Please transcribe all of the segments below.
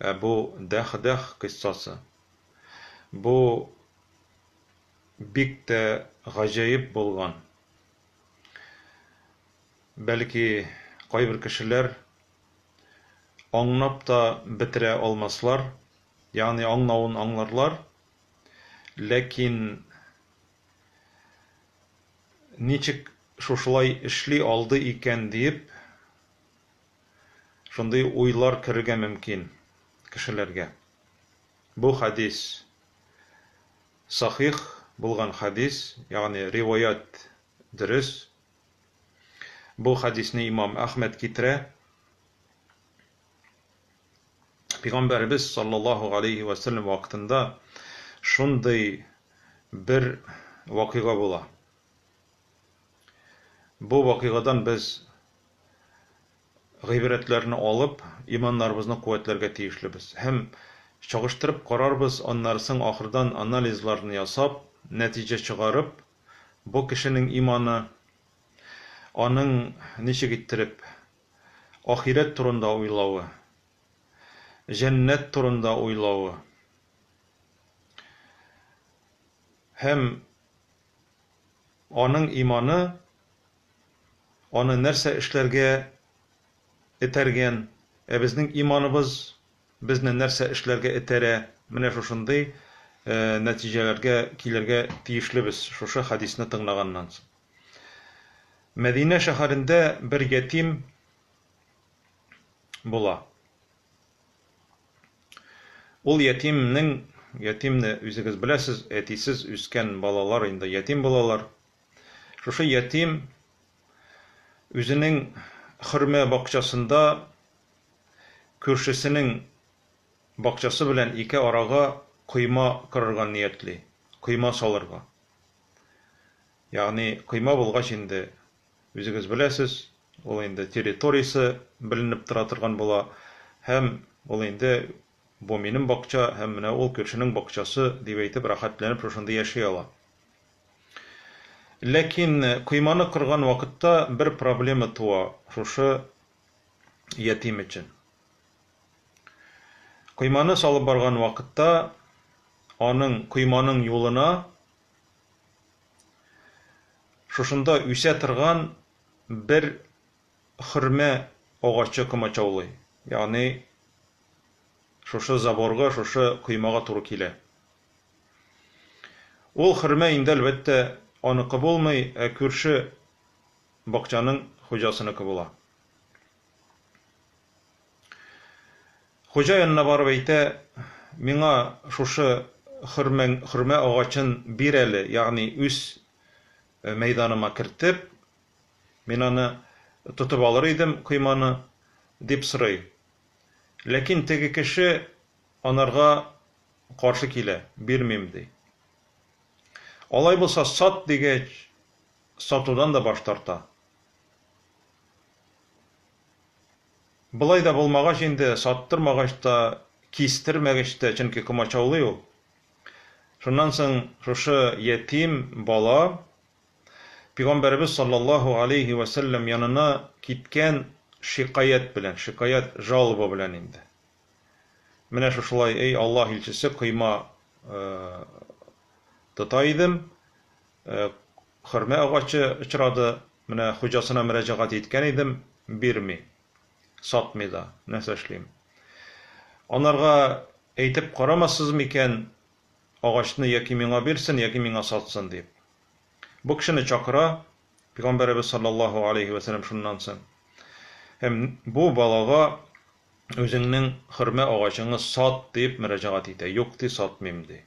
Ә бу дәх-дәх кыйссасы. Бу бик тә гаҗәеп булган. Бәлки, кайбер кешеләр аңнап та бетерә алмаслар, ягъни аңнавын аңларлар, ләкин ничек шушылай эшли алды икән диеп, Шундый уйлар керергә мөмкин кешеләргә. Бу хәдис сахих булган хәдис, ягъни риваять дөрес. Бу хәдисне имам Әхмәд китерә. Пигамбәребез саллаллаһу галәйһи вә сәлләм вакытында шундый бер вакыйга була. Бу вакыйгадан без гыйбрәтләрне алып, иманнарыбызны куәтләргә тиешлебез. Һәм чагыштырып карарбыз, аннары соң ахырдан анализларны ясап, нәтиҗә чыгарып, бу кешенең иманы, аның ничек иттереп ахирәт турында уйлавы, җәннәт турында уйлавы һәм аның иманы аны нәрсә эшләргә этәргән, ә безнең иманыбыз безне нәрсә эшләргә этәрә, менә шушындый нәтиҗәләргә килергә тиешлебез шушы хәдисне тыңлаганнан соң. Мәдинә шәһәрендә бер ятим була. Ул ятимнең, ятимне үзегез беләсез, әтисез үскән балалар инде ятим булалар, Шушы ятим үзенең хөрмә бакчасында күршесенең бакчасы белән ике арага койма кырырга ниятли, койма салырга. Ягъни койма булгач инде, үзегез беләсез, ул инде территориясе беленеп тора торган була һәм ул инде Бу минем бакча һәм менә ул күршенең бакчасы, дип әйтеп, рәхәтләнеп шушында яши ала. Ләкин койманы корган вакытта бер проблема туа шушы ятим өчен. Койманы салып барган вакытта аның койманың юлына шушында үсә торган бер хөрмә агачы комачаулый, ягъни шушы заборга, шушы коймага туры килә. Ул хөрмә инде, әлбәттә, аныкы булмый, ә күрше бакчаның хуҗасыныкы була. Хуҗа янына барып әйтә, Миңа шушы хөрмә агачын бир әле, ягъни үз мәйданыма кертеп, Мин аны тотып алыр идем, койманы, дип сорый. Ләкин теге кеше анарга каршы килә, бирмим, ди. Алай булса сат, дигәч, сатудан да баш тарта. Болай да булмагач инде, саттырмагач та, кистермәгәч тә, чөнки комачаулый ул. Шуннан соң шушы ятим бала Пигамбәребез салләллаһу галәйһи вә сәлләм янына киткән шикаять белән, шикаять, жалоба белән инде. Менә шушылай, эй Аллаһ илчесе, койма тота идем, хөрмә агачы очрады, менә хуҗасына мөрәҗәгать иткән идем, бирми, сатмый да, нәрсә эшлим? Анарга әйтеп карамассыз микән, агачны яки миңа бирсен, яки миңа сатсын дип? Бу кешене чакыра Пигамбәребез саллаллаһу алейһи вә сәлләм шуннан соң. Һәм бу балага үзеңнең хөрмә агачыңны сат дип мөрәҗәгать итә. Юк ди, сатмыйм ди.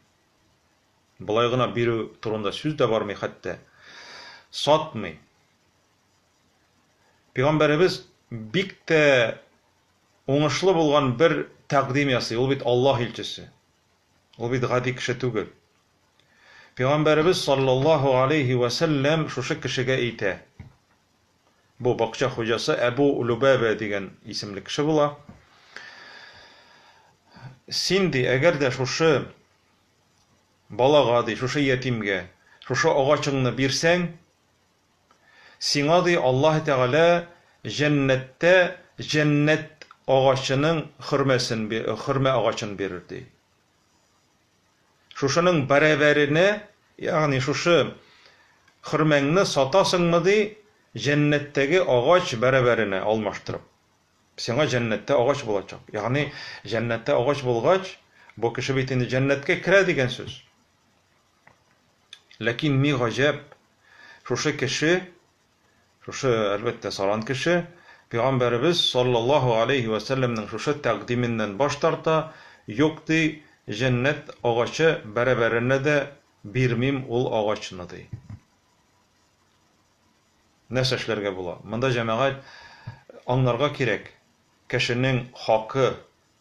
Болай гына бирү турында сүз дә бармый хәтта. Сатмый. Пигамбәребез бик тә уңышлы булган бер тәкъдим ясый. Ул бит Аллаһ илчесе. Ул бит гади кеше түгел. Пигамбәребез саллаллаһу галәйһи вә сәлләм шушы кешегә әйтә. Бу бакча хуҗасы Әбу Лүбәбә дигән исемле кеше була. Син, ди, әгәр дә шушы балага, ди, шушы ятимгә, шушы агачыңны бирсәң, Сиңа, ди, Аллаһы Тәгалә җәннәттә җәннәт агачының хөрмәсен, хөрмә агачын бирер, ди. Шушының бәрабәренә, ягъни шушы хөрмәңне сатасыңмы, ди, җәннәттәге агач бәрабәренә алмаштырып. Сиңа җәннәттә агач булачак. Ягъни җәннәттә агач булгач, бу кеше бит инде җәннәткә керә дигән сүз. Ләкин ни гаҗәп, шушы кеше, шушы, әлбәттә, саран кеше, пигамбәребез салләллаһу галәйһи вә сәлләмнең шушы тәкъдименнән баш тарта, Юк, ди, җәннәт агачы бәрабәренә дә бирмим ул агачны, ди. Нәрсә эшләргә була? Монда, җәмәгать, аңларга кирәк, кешенең хакы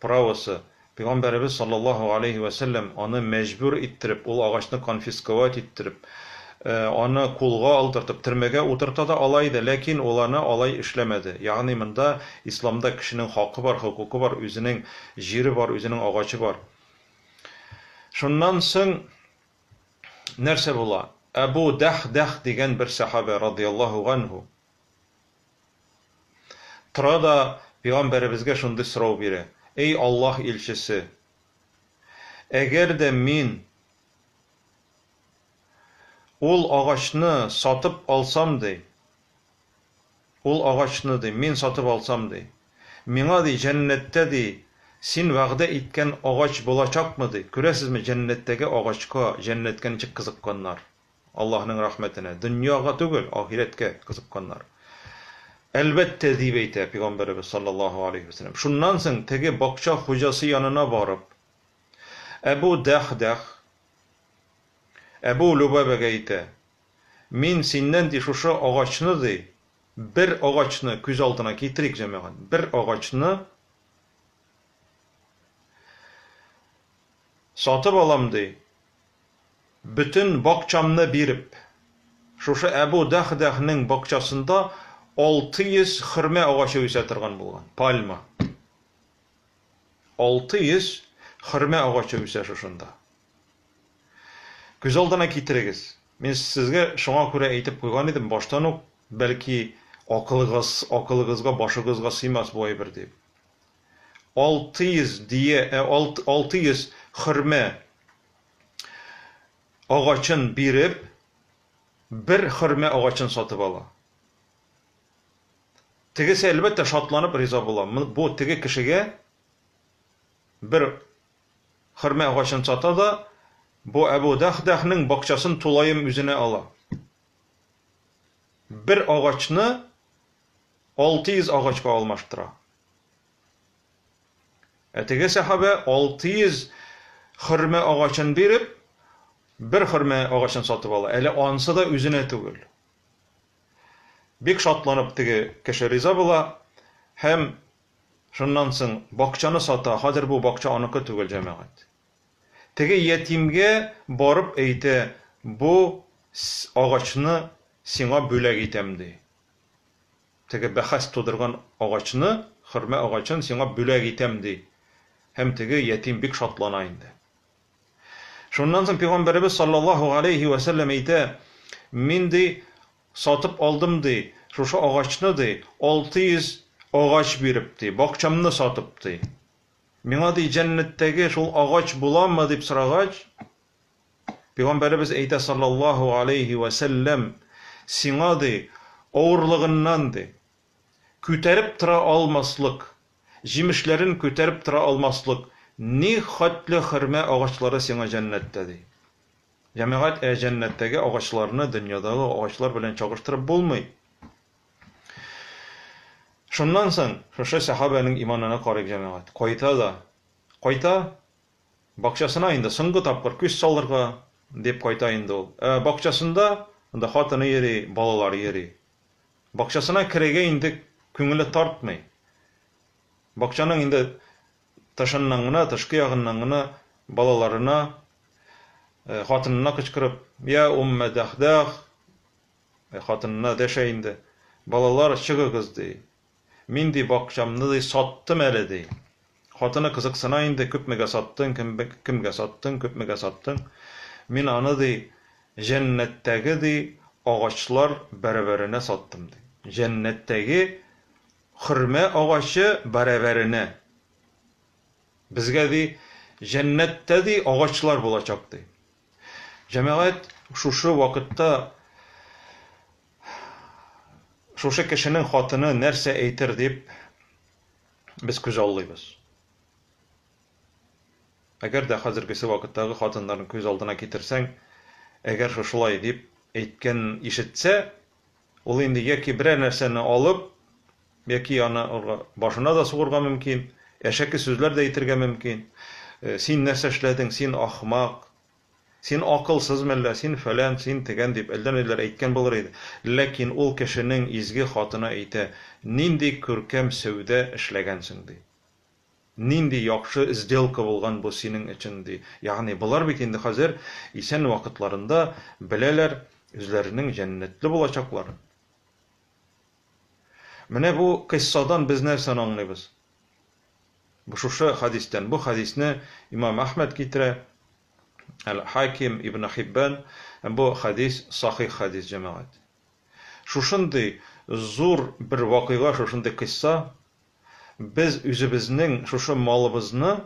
Правосы, Пәйгамбәребез салләллаһу галәйһи вә сәлләм аны мәҗбүр иттереп, ул агачны конфисковать иттереп, аны кулга алдыртып, төрмәгә утырта да ала иде, ләкин ул аны алай эшләмәде. Ягъни монда Исламда кешенең хакы бар, хокукы бар, үзенең җире бар, үзенең агачы бар. Шуннан соң нәрсә була? Әбу Дәхдәх дигән бер сәхабә, радыйяллаһу ганһу, Тора да пигамбәребезгә шундый сорау бирә, Эй Аллаһ илчесе! Әгәр дә мин ул агачны сатып алсам, ди, ул агачны, ди, мин сатып алсам, ди, миңа, ди, җәннәттә, ди, син вәгъдә иткән агач булачакмы, ди, күрәсезме, җәннәттәге агачка җәннәткә ничек кызыкканнар. Аллаһның рәхмәтенә, дөньяга түгел, ахирәткә кызыкканнар. Әлбәттә, дип әйтә пигамбәребез салләллаһу галәйһи вә сәлләм. Шуннан соң теге бакча хуҗасы янына барып, Әбү Дәхдәх Әбү Лөбабәгә әйтә, Мин синнән, ди, шушы агачны, ди, бер агачны, күз алдына китерик, җәмәгать, бер агачны сатып алам, ди. Бөтен бакчамны биреп, шушы Әбу Дәхдәхнең бакчасында 600 хөрмә агачы үсә торган булган, пальма. 600 хөрмә агачы үсә шушында. Күз алдына китерегез. Мин сезгә шуңа күрә әйтеп куйган идем баштан ук, бәлки акылыгыз, акылыгызга, башыгызга сыймас бу әйбер дип. Алты йөз дие, ә, алт, алты йөз хөрмә агачын биреп, бер хөрмә агачын сатып ала. Тегесе, әлбәттә, шатланып риза була. Бу теге кешегә бер хөрмә агачын сата да, бу Әбу Дәхдәхнең бакчасын тулаем үзенә ала. Бер агачны 600 агачка алмаштыра. Ә теге сәхабә 600 хөрмә агачын биреп, бер хөрмә агачын сатып ала. Әле ансы да үзенә түгел. Бик шатланып теге кеше риза була һәм шуннан соң бакчаны сата. Хәзер бу бакча аныкы түгел, җәмәгать. Теге ятимгә барып әйтә, бу агачны сиңа бүләк итәм, ди. теге бәхәс тудырган агачны, хөрмә агачын сиңа бүләк итәм, ди. Һәм теге ятим бик шатлана инде. Шуннан соң пигамбәребез саллаллаһу галәйһи вә сәлләм әйтә, Мин, ди, сатып алдым, ди, шушы агачны, ди, алты йөз агач биреп, ди, бакчамны сатып, ди. Миңа, ди, җәннәттәге шул агач буламы? дип сорагач, Пигамбәребез әйтә саллаллаһу галәйһи вә сәлләм, Сиңа, ди, авырлыгыннан, ди, күтәреп тора алмаслык, җимешләрен күтәреп тора алмаслык ни хәтле хөрмә агачлары сиңа җәннәттә, ди. Җәмәгать, ә җәннәттәге агачларны дөньядагы агачлар белән чагыштырып булмый. Шуннан соң шушы сәхабәнең иманына карыйк, җәмәгать. Кайта да кайта, Бакчасына инде соңгы тапкыр күз салырга дип кайта инде ул. Ә бакчасында, анда хатыны йөри, балалары йөри. Бакчасына керергә инде күңеле тартмый. Бакчаның инде тышыннан гына, тышкы ягыннан гына балаларына, хатынына кычкырып, Йә уммә дәхдәх! Хатынына дәшә инде. Балалар, чыгыгыз! ди. Мин, ди, бакчамны, ди, саттым әле, ди. Хатыны кызыксына инде, күпмегә саттың, кемгә саттың, күпмегә саттың? Мин аны, ди, җәннәттәге, ди, агачлар бәрабәренә саттым, ди. Җәннәттәге хөрмә агачы бәрабәренә. Безгә, ди, җәннәттә, ди, агачлар булачак, ди. Җәмәгать, шушы вакытта Шушы кешенең хатыны нәрсә әйтер дип без күзаллыйбыз. Әгәр дә хәзергесе вакыттагы хатыннарын күз алдына китерсәң, әгәр шушылай дип әйткән ишетсә, ул инде яки берәр нәрсәне алып, яки аны башына да сугырга мөмкин, әшәке сүзләр дә әйтергә мөмкин. Син нәрсә эшләдең, син ахмак, Син акылсыз мәллә, син фәлән, син тегән, дип әллә-ниләр әйткән булыр иде. Ләкин ул кешенең изге хатыны әйтә, Нинди күркәм сәүдә эшләгәнсең, ди. Нинди яхшы сделка булган бу синең өчен, ди. Ягъни болар бит инде хәзер исән вакытларында беләләр үзләренең җәннәтле булачакларын. Менә бу кыйссадан без нәрсәне аңлыйбыз? Бу шушы хәдистән. Бу хәдисне имам Әхмәд китерә, Әл-Хаким, Ибне Хиббән. Һәм бу хәдис сахих хәдис, җәмәгать. Шушындый зур бер вакыйга, шушындый кыйсса, без үзебезнең шушы малыбызны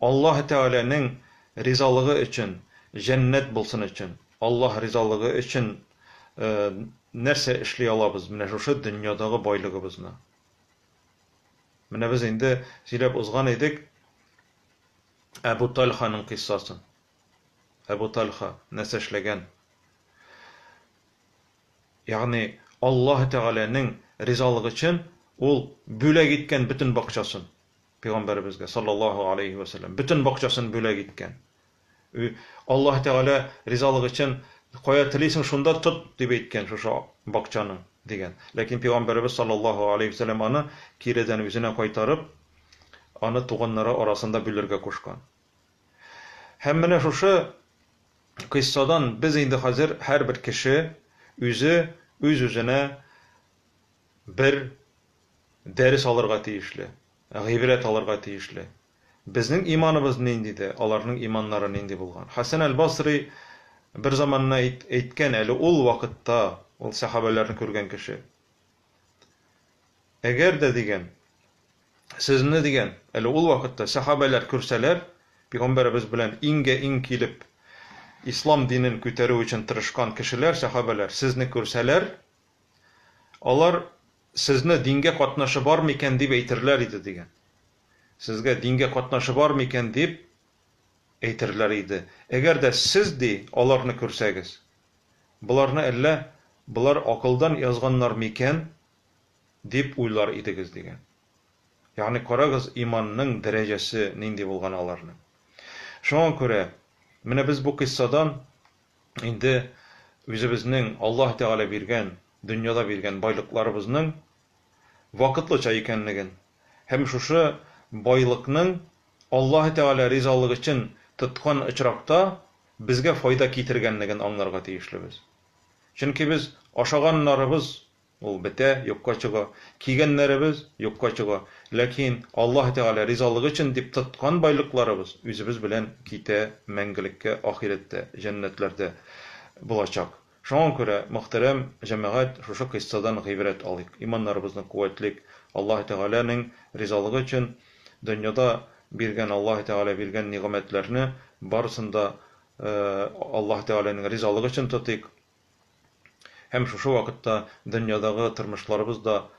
Аллаһы Тәгаләнең ризалыгы өчен, җәннәт булсын өчен, Аллаһ ризалыгы өчен нәрсә эшли алабыз, менә шушы дөньядагы байлыгыбызны? Менә без инде сөйләп узган идек Әбу Тальханың кыйссасын. Әбу Тальха нәрсә эшләгән? Ягъни Аллаһ Тәгаләнең ризалыгы өчен ул бүләк иткән бөтен бакчасын пәйгамбәребезгә саллаллаһу алейһи вә сәлләм. Бөтен бакчасын бүләк иткән. Аллаһ Тәгалә ризалыгы өчен кая телисең, шунда тот, дип әйткән шушы бакчаны, дигән. Ләкин пәйгамбәребез салләллаһу галәйһи вә сәлләм аны киредән үзенә кайтарып, аны туганнары арасында бүлергә кушкан. Һәм менә шушы кыйссадан без инде хәзер һәрбер кеше үзе үз-үзенә бер дәрес алырга тиешле, гыйбрәт алырга тиешле. Безнең иманыбыз нинди дә, аларның иманнары нинди булган. Хәсән әл-Басри бер заманны әйт, әйткән, әле ул вакытта, ул сәхабәләрне күргән кеше. Әгәр дә, дигән, сезне, дигән, әле ул вакытта сәхабәләр күрсәләр, пигамбәребез белән иңгә-иң килеп, ислам динен күтәрү өчен тырышкан кешеләр, сәхабәләр, сезне күрсәләр, алар, Сезне дингә катнашы бармы икән? дип әйтерләр иде, дигән. Сезгә дингә катнашы бар микән дип әйтерләр иде. Әгәр дә сез, ди, аларны күрсәгез, Боларны әллә болар акылдан язганнар микән? дип уйлар идегез, дигән. Ягъни, карагыз, иманның дәрәҗәсе нинди булган аларның. Шуңа күрә, менә без бу кыйссадан инде үзебезнең Аллаһ Тәгалә биргән, дөньяда биргән байлыкларыбызның вакытлыча икәнлеген һәм шушы байлыкның Аллаһы Тәгалә ризалыгы өчен тоткан очракта безгә файда китергәнлеген аңларга тиешлебез. Чөнки без ашаганнарыбыз, ул бетә, юкка чыга, кигәннәребез, юкка чыга, ләкин Аллаһы Тәгалә ризалыгы өчен дип тоткан байлыкларыбыз үзебез белән китә мәңгелеккә ахирәттә, җәннәтләрдә булачак. Шуңа күрә, мөхтәрәм җәмәгать, шушы кыйссадан гыйбрәт алыйк, иманнарыбызны куәтлик, Аллаһы Тәгаләнең ризалыгы өчен дөньяда биргән Аллаһы Тәгалә биргән нигъмәтләрне барысын да Аллаһы Тәгаләнең ризалыгы өчен тотыйк һәм шушы вакытта дөньядагы тормышларыбыз да